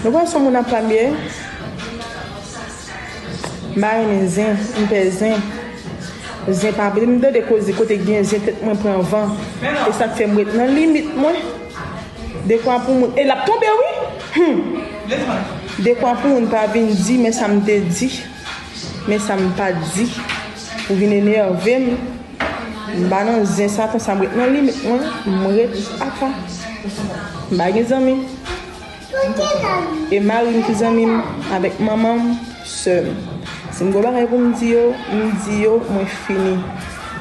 Nou pa sou moun ap pran byè. Mpa renmen zen, mpè zen. Zen pa bel m tande koze kote gen zen tèt mwen pran van. Esak fèm ret nan limit mwen. Dekwa pou moun e lap tonbe wi! Humm! Dekwa pou moun pa vin di men sa m te di. Men sa m pa di pou vin enève m M pa nan zen sa konsa m ret nan limit mwen M ret apa M pa gen zanmi E mari m ki zanmi m avèk manman m sè m Si m gen yon bagay pou m di yo m di yo mwen fini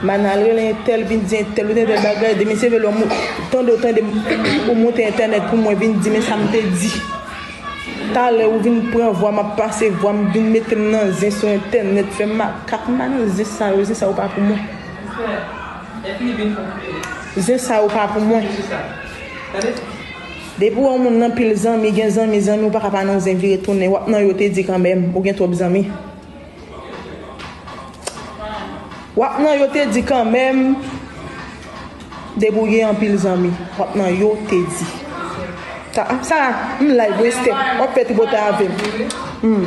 M pa nan al rele entèl vin di entèl ou te entèl bagay demen se vè lè ou tande ou tande m ou monte entènèt pou mwen vin di men sa m te di. Talè ou vin pran vwa m ap pase vwa m vin mete m nan zen sou entènèt fè m makak m pa nan zen sa yo zen sa yo pa pou mwen zen sa yo pa pou mwen depi w wè yon moun nan pil zanmi gen zanmi zanmi ou pa ka pa nan zen vire tounen w ap nan yo te di kanmèm ou gen twòp zanmi. Wap nan yo te di kan menm debouye anpil zanmi wap nan yo te di ta ap sa m lay vwe ste wap fè ti bota avem m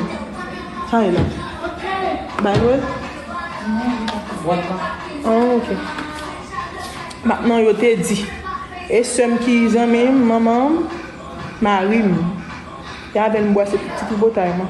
sa e la bay nou el an ok wap nan yo te di e sem ki zanmi m manman m mari m ya ven m bwase ti ti bota eman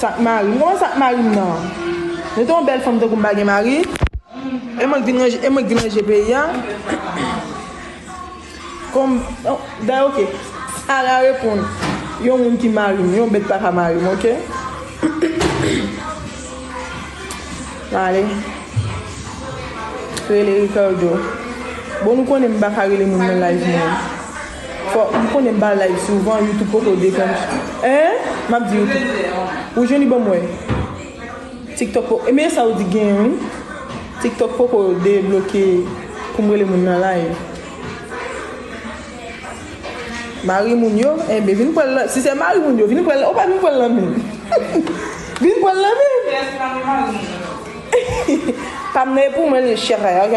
Sak marim non sak marim nan Nou te yon bèl fanm tankou m pa gen mari E mwen k vin ranje e mwen k vin ranje peyi a Kon Dayè ok Ara reponn Yon moun ki marim yon bèt paka marim ok Nan ale Rele Ricardo Bon nou konnen m paka rele moun nan live mwen Fok m konnen m pa live souvan youtube poko dekonn hein map di youtube ou jwenn li banm wè tiktok poko men sa ou di gen wi tiktok poko debloke poum rele moun nan live mari moun yo enben vin pranl si se mari moun yo vin pranl ou pa vin pranl nan menm vin pranl nan menm pam nan e pou mwen li chere ok.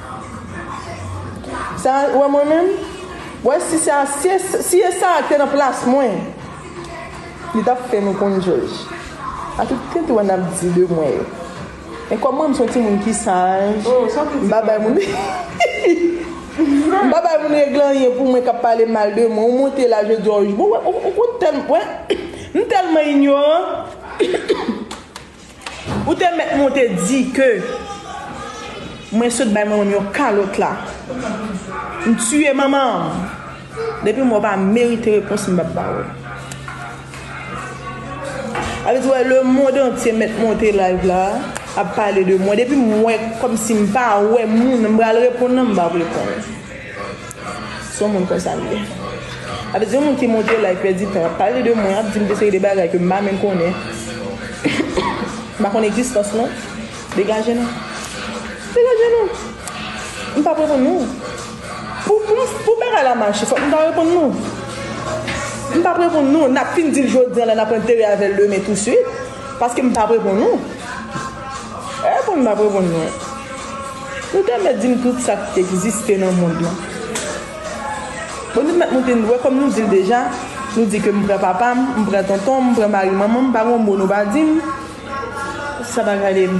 Sa a wè mwen menm? Wè si sa si e sa a te nan plas mwen li tap fè nou konn jòj a tout tenten wè nap di de mwen yo men kòm mwen m son ti moun ki saj m pa bay moun m pa bay moun règle anyen pou mwen kap pale mal de mwen ou monte la je di w tèlman m tèlman inyoran Ou te mèt monte di ke mwen sot bay manmanm yon kalot la. M tuye manman. Depi m wè w pa merite repons m pap ba w. Sa vle di wè le mond antye mèt monte live la ap pale de mwen depi m wè kòmsi m pa wè moun m pral reponn nan m pap reponn. Son moun konsa li ye. Apa se yon moun ki monte la epi pèdi tan ap pale de mwen ap dim de seri de bagay ke m pa menm konnen m pa konn egzistans nou degaje nou degaje nou m pap reponn nou pou pou pou bagay la mache fòk m ta reponn nou m pap reponn nou nap fin di l jodi an la nap antere avè l demen tou suit paske m pap reponn nou m pap reponn nou. Ou te mèt dim tout sak t egziste nan mond lan. Bon nou t mèt moute n wè kòm nou dil deja nou di ke m pran papam m pran tontonm m pran mari manmanm pa gon mo nou pa dim sa pa gadem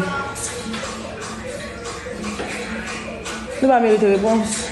nou pa merite repons.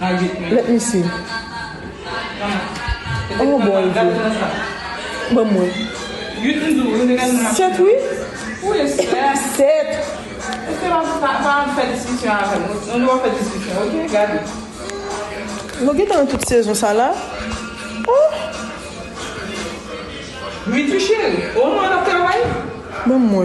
Let me see oh boy vre banm wè set wi set nou gentan nan tout sezon sa la oh banm wè